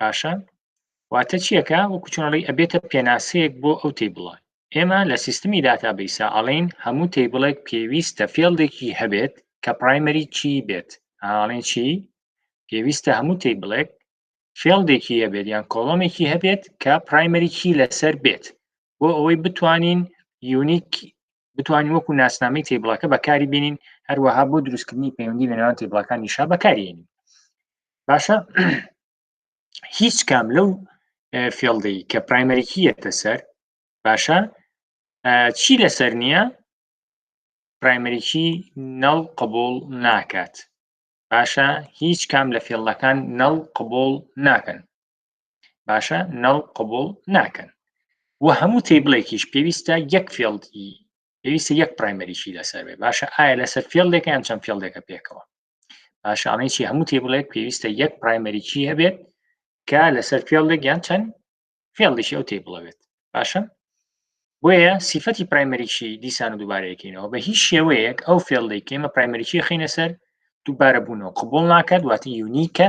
باشە واتە چیەکە وەکو چۆنڵی ئەبێتە پێناسەیەک بۆ ئەو تی بڵە ئێمە لە سیستمی داتا بیسا ئەڵین هەموو تی بڵێک پێویستە فێڵدێکی هەبێت کە پرایمەری چی بێت ئاڵێن چی پێویستە هەموو تی بڵێک فێڵدێکی هەبێت یان کۆڵۆمێکی هەبێت کە پرایمەریکی لەسەر بێت بۆ ئەوەی بتوانین یونیک بتوانین وەکو ناسنامەی تێبڵەکە بەکاری بینین هەروەها بۆ دروستکردنی پەیوەندی لە نێوان تێبڵەکانی شا بەکارێنین باشە هیچ کام لەو فێڵدەی کە پرایمەریکیەتە سەر باشە چی لەسەر نییە پرایمەریکی نەڵ قبول ناکات باشە هیچ کام لە فێڵەکان نەڵ قبول ناکەن باشە نەڵ قبول ناکەن و هەموو تیبلێکیش پێویستە یەک فێڵی پێویستە یەک پرایمەریشی لەسەر بێ باشە ئایا لەسەر فێڵێکە یان چەند فێڵێکە پێکەوە باشانەی چی هەموو تیبلێک پێویستە یەک پرایمەریکی هەبێت کە لەسەر فێڵێک یان چەند فێڵیشی ئەو تی بڵەوێت باشە بۆیە سیفەتی پرایمەریکی دیسان و دووبارەیەکەینەوە بە هیچ شێوەیەک ئەو فێڵی کێمە پرایمەریکی خینە سەر دووبارە بوونەوە قبول ناکات واتی یونیکە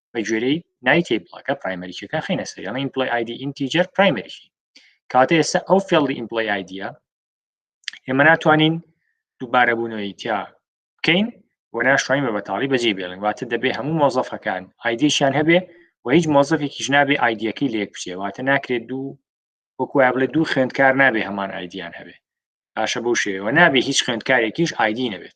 بە گوێرەی ناوی تیبڵەکە پرایمەریکەکە خینە سەر یانە ئیمپلۆی ئایدی ئینتیجەر پرایمەریکی کاتە ئێستا ئەو فێڵی ئیمپلۆی ئایدیە ئێمە ناتوانین دووبارە بوونەوەی تیا بکەین و ناشتوانین بە بەتاڵی بەجێ بێڵن واتە دەبێ هەموو مۆزەفەکان ئایدیشیان هەبێ و هیچ مۆزەفێکیش نابێ ئایدیەکەی لێک بچێ واتە ناکرێت دوو وەکویا بڵێ دوو خوێندکار نابێ هەمان ئایدیان هەبێ باشە بەو شێوەوە نابێ هیچ خوێندکارێکیش ئایدی نەبێت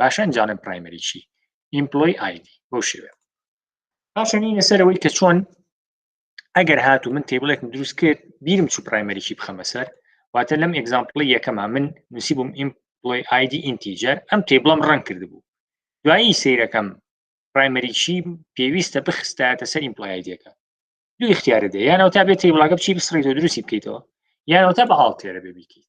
باشە ئەنجا ئەڵێم پرایمەری چی ئیمپلۆی ئایدی بەو شێوێ پاشەنینە سەرەوەی کە چۆن ئەگەر هاتو من تێبڵێکم دروست کرد بیرم چوو پرایمەریی بخەمە سەر واتە لەم ئەگزامپڵی یەکەما من نووسی بووم ئیمپلۆی ئایدی ئینتیجەر ئەم تێبڵم ڕەنگ کرد بوو دوایی سیرەکەم پرایمەریی پێویستە بخستایەتە سەر ئیمپلایدەکە دوو اختیارە دێ یانەوە تا بێت تێبڵاگە بچی بسڕیتەوە دروستی بکەیتەوە یانەوە تا بە هاڵتێرە بێ بیکەیت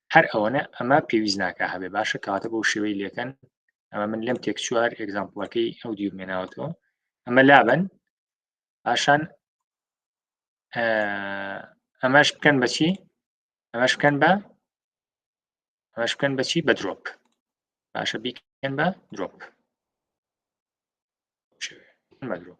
هەر ئەوەنە ئەمە پێویست ناکە هەبێ باشە کەواتە بۆ شێوەی لەکەن ئەمە من لەم تێک چوار ئەگزامپڵەکەی ئەو دیو مێناوەتەوە ئەمە لابن پاشان ئەمەش بکەن بەچی ئەمەش بکەن بە ئەمەش بکەن بەچی بە درۆپ باشە بیکەن بە درۆپ بە درۆپ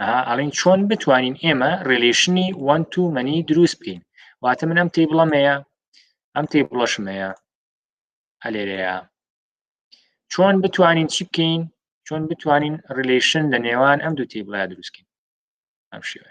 ئەها ئەڵین چۆن بتوانین ئێمە ڕێلیشنی وەن تو مەنی دروست بکەین واتە من ئەم تێی بڵەمەیە ئەم تێی بڵەشمەیە ئەلێرەیە چۆن بتوانین چی بکەین چۆن بتوانین ڕیلیشن لە نێوان ئەم دوو تێبڵە دروستکەین ئەم شێوە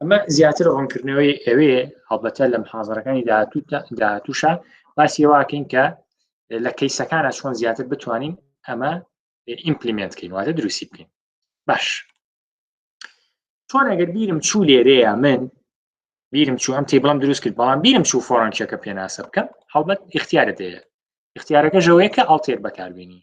ئەمە زیاتر ڕوونکردنەوەی ئەوێ هەڵبەتە لەم حاضرەکانی داهاتوشە باسی واکەین کە لە کەیسەکانە چۆن زیاتر بتوانین ئەمە ئیمپلیمنت کەین واتە دروستی بکەین باش چۆن ئەگەر بیرم چوو لێرەیە من بیرم چوو ئەم تیبڵم دروست کرد بەڵام بیرم چوو فۆڕنچەکە پێناسە بکەم هەڵبەت اختیارە دەیە اختیارەکە ژەوەیە کە ئەڵتێک بەکاربیێنی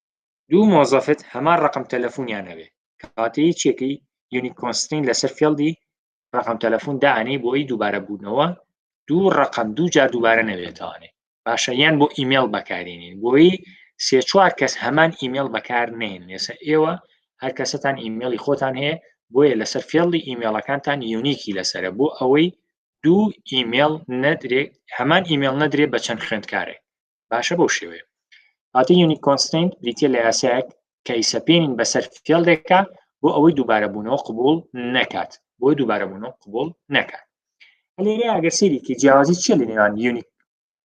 دوو مۆزەفت هەمان ڕەقەم تەلەفونیان هەبێ کەواتە یەکێکی یونیک کۆنسترین لەسەر فێڵدی ڕقم تەلەفۆن دانێ بۆی دووبارە بوونەوە دوو ڕقم دوو جار دووبارە نەوێتوانێ باشە یان بۆ ئیممەل بەکارینین بۆی سێ چوار کەس هەمان ئیممەل بەکار نێن لێسە ئێوە هەر کەسەتان ئیممەلی خۆتان هەیە بۆیە لەسەر فێڵی ئیممەڵەکانتان یونیکی لەسرە بۆ ئەوەی دوو ئیممەل نەدرێ هەمان ئیممەل نەدرێ بە چەند خوێندکارێک باشە بەو شێوەیە هاتی یونیک کۆنستین بریتە لە یاسایەک کە ئیسەپێنین بەسەر فێڵێکە بۆ ئەوەی دووبارە بوونەوە قبول نەکات بۆ دووبارە بوونەوە قبول نەکات لێرە ئەگەر سێریکی جیاوازی چیە لە نێوان یونیک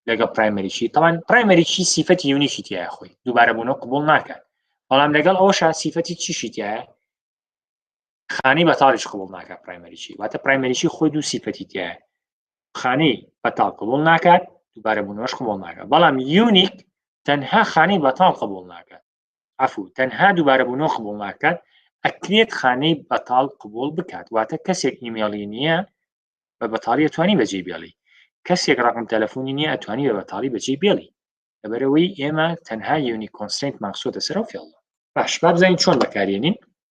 لەگەڵ پرایمەریشی تەوان پرایمەریشی سیفەتی یونیکی تایە خۆی دووبارە بوونەوە قبول ناکات بەڵام لەگەڵ ئەوشا سیفەتی چیشی تایە خانەی بەتاڵیش قبول ناکە پرایمەریی واتە پرایمەریی خۆی دوو سیفەتی تایە خانەی بەتاڵ قبول ناکات دووبارە بوونەوەش قبول ناکە بەڵام یونیک تەنها خانەی بەتاڵ قبول ناکات عفو تەنها دووبارە بوونەوە قبول ناکات ئەکرێت خانەی بەتاڵ قبول بکات واتە کەسێک ئیمێڵی نییە بە بەتاڵی ئەتوانی بەجێ بێڵی کەسێک ڕقم تەلەفۆنی نییە ئەتوانی بە بەتاڵی بەجێ بێڵی لەبەرەوەی ئێمە تەنها یونی کۆنسنت ماکسۆتە سەر و فێڵ باش بابزانین چۆن بەکارێنین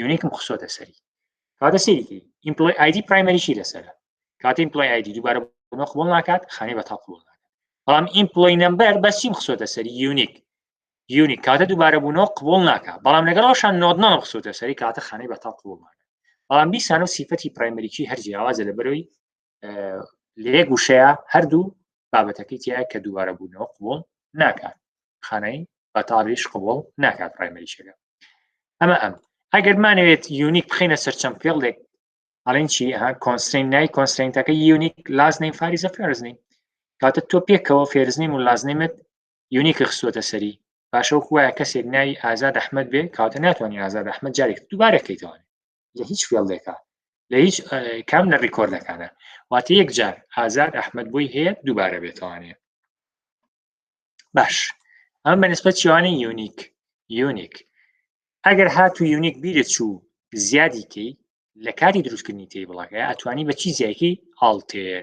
یونیکم خسۆتە سەری کاتە سەیری ئیمپلۆی ئایدی پرایمەریشی لەسەرە کاتی ئیمپلۆی ئایدی دووبارە بۆمە قبول ناکات خانەی بە تا قبول ناکات بەڵام ئیمپلۆی نمبەر بەسیم خسۆتە سەری یونیک یونیک کاتە دووبارە بوونەوە قبول ناکات بەڵام لەگەڵ ڕۆشان نۆدنەوە خسۆتە سەری کاتە خانەی بە تا قبول ناکات بەڵام بیسانە سیفەتی پرایمەریکی هەر جیاوازە لە بەرەوەی لێک وشەیە هەردوو بابەتەکەی تایە کە دووارە بوونەوە قوڵ ناکات خانەی بەتاڕیش قوڵ ناکات پرایمەریشەکە ئەمە ئەم ئەگەر مانەوێت یونیک بخینە سەرچەم پێڵێک ئەڵێن چی ها کۆنسین نای کۆنسینتەکە یونیک لاز نیم فاریزە فێرزنی کاتە تۆ پێکەوە فێرزنیم و لازنیمت یونیک خستوەتە سەری باشەو خوایە کەسێک ناوی ئازاد ئەحمد بێ کاتە ناتوانانی ئازاد ئەحمد جارێک دووبارەکەیتوانێت لە هیچ فێڵێکە لە هیچ کام لە ڕیکۆردەکانە واتە یەک جار ئازاد ئەحمد بۆی هەیە دووبارە بێتوانێ باش ئەم بەنسبەت چوانی یونیک یونیک ئەگەر هات و یونیک بیرە چوو زیادیکەی لە کاری دروستکردنی تی بڵاکە ئەتوانی بە چی زیایکی هاڵتێر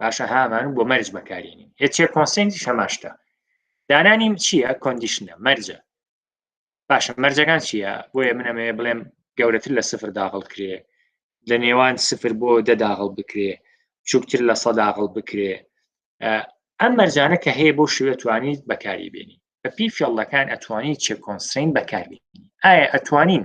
باشە هامان بۆ مەرج بەکارێنین هێچێ کۆنسنتی شەماشتە دانانیم چییە کۆندیشنە مەرجە باشە مەرجەکان چییە بۆیە منەمێ بڵێم گەورەتر لە سفر داغڵ کرێ لە نێوان سفر بۆ دەداغڵ بکرێ چووکتر لە سەداغڵ بکرێ ئەم مەرجانە کە هەیە بۆ شوێ توانیت بەکاری بێنی بە پی فێڵەکان ئەتوانین چێ کۆنسین بەکاربیێنی ئایا ئەتوانین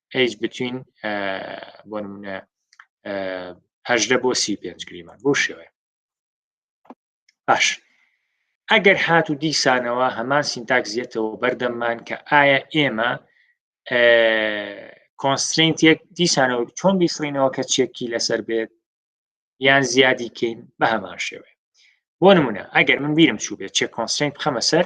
ئەیج بتوین بۆ نمونە هەژدە بۆ سی پێنج گریمان بۆ شێوێ باش ئەگەر هات و دیسانەوە هەمان سینتاک زیێتەوە بەردەممان کە ئایا ئێمە کۆنسترینت یەک دیسانەوە چۆن بیسڕینەوە کە چێکی لەسەر بێت یان زیادی کەین بە هەمان شێوێ بۆ نمونە ئەگەر من بیرم چوو بێت چێ کۆنسترینت بخەمە سەر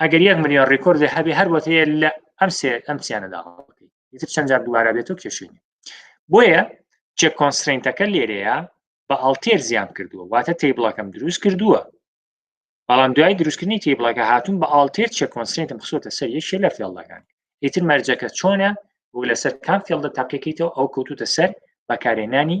ئەگەر یەک ملیۆن ڕیکۆردێ هەبێ هەر بۆت هەیە لە ئەم سێ ئەم سیانەدا ئیتر چەند جار دووارە بێت و کێشێنی بۆیە چێک کۆنسرینتەکە لێرەیە بە ئەڵتێر زیان کردووە واتە تیبڵەکەم دروست کردووە بەڵام دوای دروستکردنی تیبڵەکە هاتون بە ئاڵتێر چێک کۆنسرینتم خسۆتە سەر یەکێ لە فێڵدەکان ئیتر مەرجەکە چۆنە بۆ لەسەر کام فێڵدە تاقیەکەیتەوە ئەو کەوتوتە سەر بەکارێنانی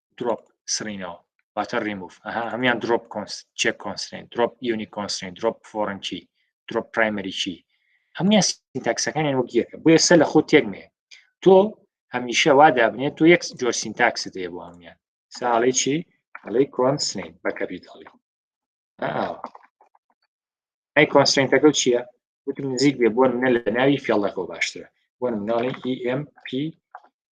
درۆپ سڕینەوە واتە ڕیموف ئەها هەمان درۆپ چێک کۆنسرین درۆپ یونی کۆنسرین درۆپ فۆرنکی درۆپ پرایمەریی هەموان سینتاکسەکانیان وەک یەکە بۆ ئێستا لە خۆ تێکمێ تۆ هەمیشە وا دابنێت تۆ یەک جۆر سینتاکس دێ بۆ هەموان ساڵی چی ئەڵی کۆنسرین بە کەپیتاڵی ئەی کۆنسرینتەکە چییە وتم نزیک بێ بۆ منە لە ناوی فێڵەکەەوە باشترە بۆ مناڵی EMP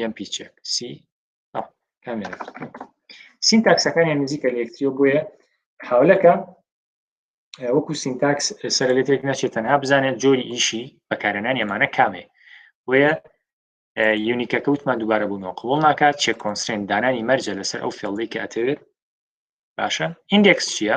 یەم پیچێک سی کامێرا سینتاکسەکانیان نزیکە لە یەکتریەوە بۆیە حاولەکە وەکو سینتاکس سەر لە تێک نەچێت تەنها بزانێت جۆری ئیشی بەکارێنان ئەمانە کامێ بۆیە یونیکە کەوتمان دووبارە بوونەوە قوڵ ناکات چێ کۆنسرێن دانانی مەرجە لەسەر ئەو فێڵدەی کە ئەتەوێت باشە ئیندێکس چییە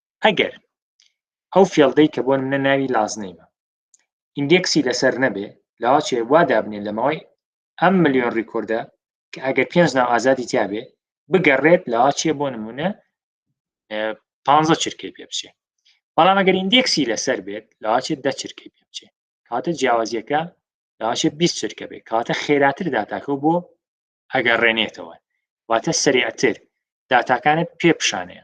ئەگەر ئەو فێڵدەی کە بۆ منە ناوی لازنەیمە ئیندێکسی لەسەر نەبێ لاچێ وا دابنێ لەمەوەی ئەم ملیۆن ڕیکۆردە کە ئەگەر پێنج ناو ئازادی تیاابێ بگەڕێت لاچێ بۆ نمونە پ چرکەی پێ بچێ بەڵام ئەگەر ئیندێکسی لەسەر بێت لاچێت دە چرکەی پێ بچێ کاتە جیاوازیەکە لاچێ 20 چرکە بێت کاتە خێراتر داتاکە بۆ ئەگەر ڕێنێتەوە واتە سریعتر داتاکانت پێ پیشانەیە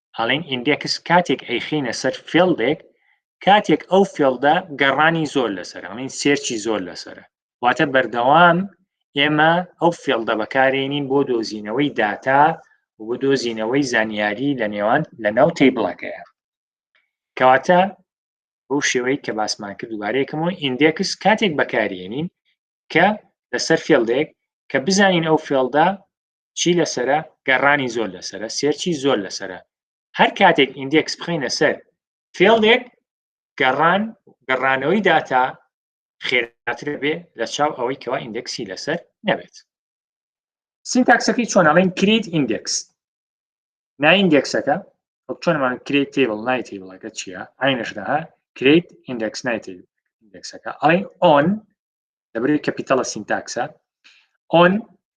ئەڵێن ئیندێکس کاتێک ئەیخینە سەر فێڵدێک کاتێک ئەو فێڵدە گەڕانی زۆر لەسەر ئەڵین سێرچی زۆر لەسرە واتە بەردەوام ئێمە ئەو فێڵدە بەکارێنین بۆ دۆزینەوەی داتا بۆ دۆزینەوەی زانیاری لە نێوان لە ناو تیبڵەکەیە کەواتە بەو شێوەی کە باسمان کرد دوبارەیەکەمەوە ئیندێکس کاتێک بەکارێنین کە لەسەر فێڵدێک کە بزانین ئەو فێڵدا چی لەسرە گەڕانی زۆر لەسرە سێرچی زۆر لەسرە هەر کاتێک ئیندێکس بخینە سەر فێڵێک گەڕان گەڕانەوەی داتا خێراتر بێ لە چاو ئەوەی کەوا ئیندێکسی لەسەر نەبێت سینتاکسەکەی چۆن ئەڵێن کریت ئیندێکس نایندێکسەکە چۆنمان کرێت تێبڵ نای تێبڵەکە چییە ئاینەشدا ها کرێت ئیندێکس نای ئیندێکسەکە ئەڵێن ئۆن دەبرێت کەپیتەڵە سینتاکسە ئۆن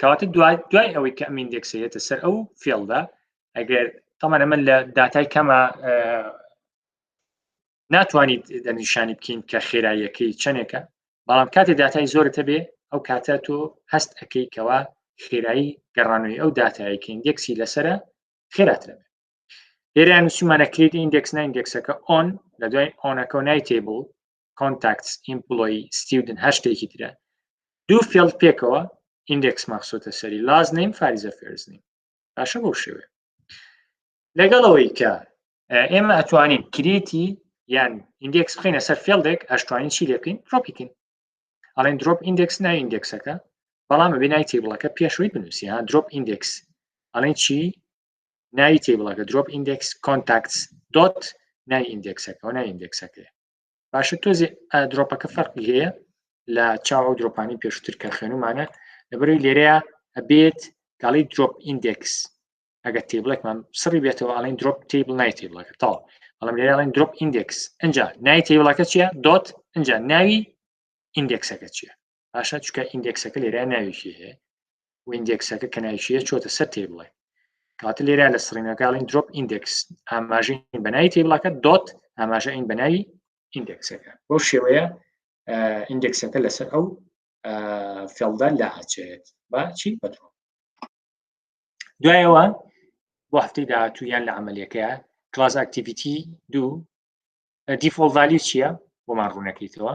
کاتە دوای دوای ئەوەی کە ئەمین دێکسێتە سەر ئەو فێڵدا ئەگەر تەمان ئەمە لە داتای کەمە ناتوانیت دەنیشانی بکەین کە خێراییەکەی چەندێکە بەڵام کاتێ داتای زۆرتە بێ ئەو کاتە تۆ هەست ئەەکەی کەەوە خێرایی گەڕانەوەی ئەو داتایی کە ئیندێکسی لەسرە خێراترە لێرە نووسیمانە کلیت ئیندێکس نایندێکسەکە ئۆن لە دوای ئۆنەکە نای تێبوو کۆنتاکتس ئیمپلۆی ستیودن هەر شتێکی ترە دوو فێڵ پێکەوە ئیندێکس مەخسوتە سەری لاز نیم فاریزە فێرز نیم باشە بەو شێوێ لەگەڵ ئەوەی کە ئێمە ئەتوانین کریتی یان ئیندێکس بخینە سەر فێڵدێک ئەشتوانین چی لەکەین ڕۆپیکن ئەڵێن درۆپ ئیندێکس نای ئیندێکسەکە بەڵام بێ نای تیبڵەکە پێشوی بنووسی ها درۆپ ئیندێکس ئەڵێن چی ناوی تیبڵەکە درۆپ ئیندێکس کۆنتاکتس دۆت ناوی ئیندێکسەکە و ناوی ئیندێکسەکەی باشە تۆزی درۆپەکە فەرقی هەیە لە چاو ئەو درۆپانی پێشتر کە خوێنمانە لەبەروی لێرەیە ئەبێت گەڵی درۆپ ئیندێکس ئەگە تیبلێکمان سڕی بێتەوە ئەڵین درۆپ تیبل نای تیبلەکە تاڵ بەڵام لێرەڵین درۆپ ئیندێکس ئەجا نای تیبلەکە چیە دۆت ئەجا ناوی ئیندێکسەکە چیە پاشا چکە ئیندێکسەکە لێرا ناویشی هەیە ویندێکسەکە کە ناویشیە چۆتە سەر تێ بڵێ کاتە لێرا لە سڕینەکەڵین درۆپ ئیندێکس ئاماژین بەناوی تێبڵاکە دۆت ئاماژە ئین بەناوی ئیندێکسەکە بۆ شێوەیە ئیندێکسەکە لەسەر ئەو فێڵدا لا ئەچێت بە چی بەدرۆ دوایەوە بۆ هەفتەی داهاتوو یان لە عملیەکە کلاس ئاکتیڤیتی دوو دیفۆڵ ڤالی چییە بۆمان ڕوونەکەیتەوە